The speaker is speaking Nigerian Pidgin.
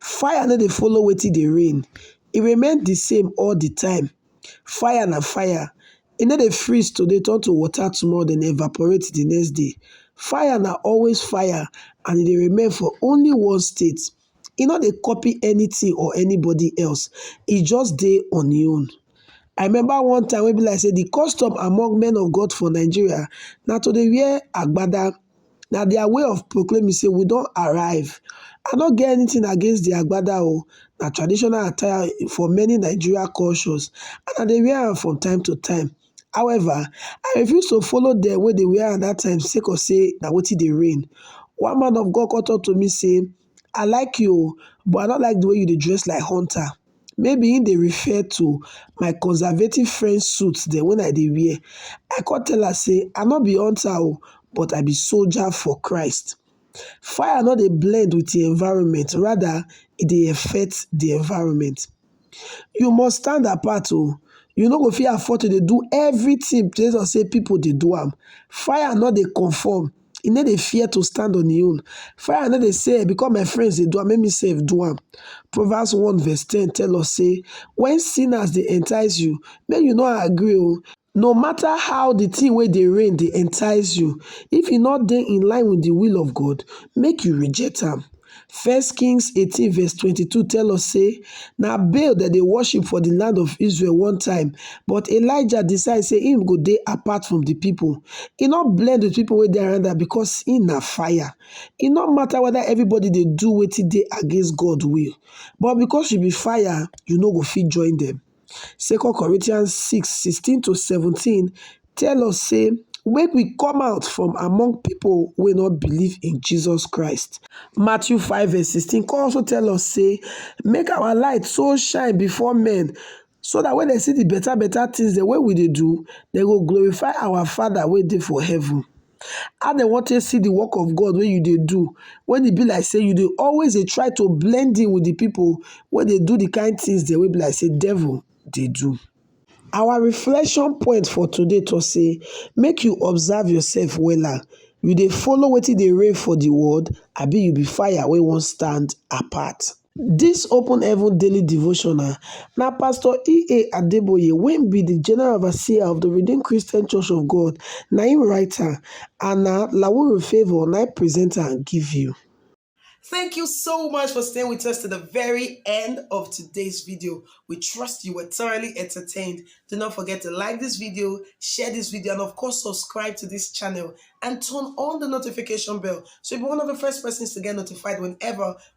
Fire no dey follow wetin dey rain, e remain di same all di time, fire na fire, e no dey freeze today turn to water tomorrow den evaporate di next day, fire na always fire and e dey remain for only one state, e no dey copy anytin or anybody else, e just dey on e own. I remember one time wey be like sey di custom among men of God for Nigeria na to dey wear agbada. na their way of proclaiming say we don arrive. I no get anything against the agbada o, na traditional attire for many Nigeria cultures and I dey wear am from time to time. However, I refuse to follow dem wey dey wear am that time sake of say na wetin dey reign. One man of God come talk to me say, i like you oo but i no like the way you dey dress like hunter maybe he dey refer to my conservative friend suit dem wen i dey wear i come tell am say i no be hunter oo but i be soldier for christ fire no dey blend with e environment rather e dey effect the environment you must stand apart oo you no go fit afford to dey do everything base on say people dey do am fire no dey conform e no dey fear to stand on e own fire no dey say because my friends dey do am make me sef do am proverbs one verse ten tell us say when sinners dey entice you make you no agree oo No matter how the thing wey dey reign dey entice you, if e no dey in line with the will of God, make you reject am. First Kings 18 verse 22 tell us say na Baal dem dey worship for the land of Israel one time, but Elijah decide say him go dey apart from the people. He no blend with people wey dey around am because he na fire. E no matter whether everybody dey do wetin dey against God will, but because you be fire, you no go fit join them. 2 Corinthians 6 16 - 17 tell us say make we come out from among people wey no believe in Jesus Christ. Matthew 5 verse 16 come also tell us say make our light so shine before men so that when they see the better better things dem wey we dey do, they go glorify our Father wey dey for heaven. How dem wan take see the work of God wey you dey do when e be like say you dey always dey try to blend in with the people wey dey do the kind things dem wey be like say devil dey do. Our reflection point for today talk say make you observe yourself wella. You dey follow wetin dey reign for the world abi you be fire wey wan stand apart? Dis open heaven daily devotional na pastor EA Adeboye wey be the general overseer of the Redeemed Christian Church of God na im write am and na Lawuru Favour na im present am give you. Thank you so much for staying with us to the very end of today's video. We trust you were thoroughly entertained. Do not forget to like this video, share this video, and of course, subscribe to this channel and turn on the notification bell so you'll be one of the first persons to get notified whenever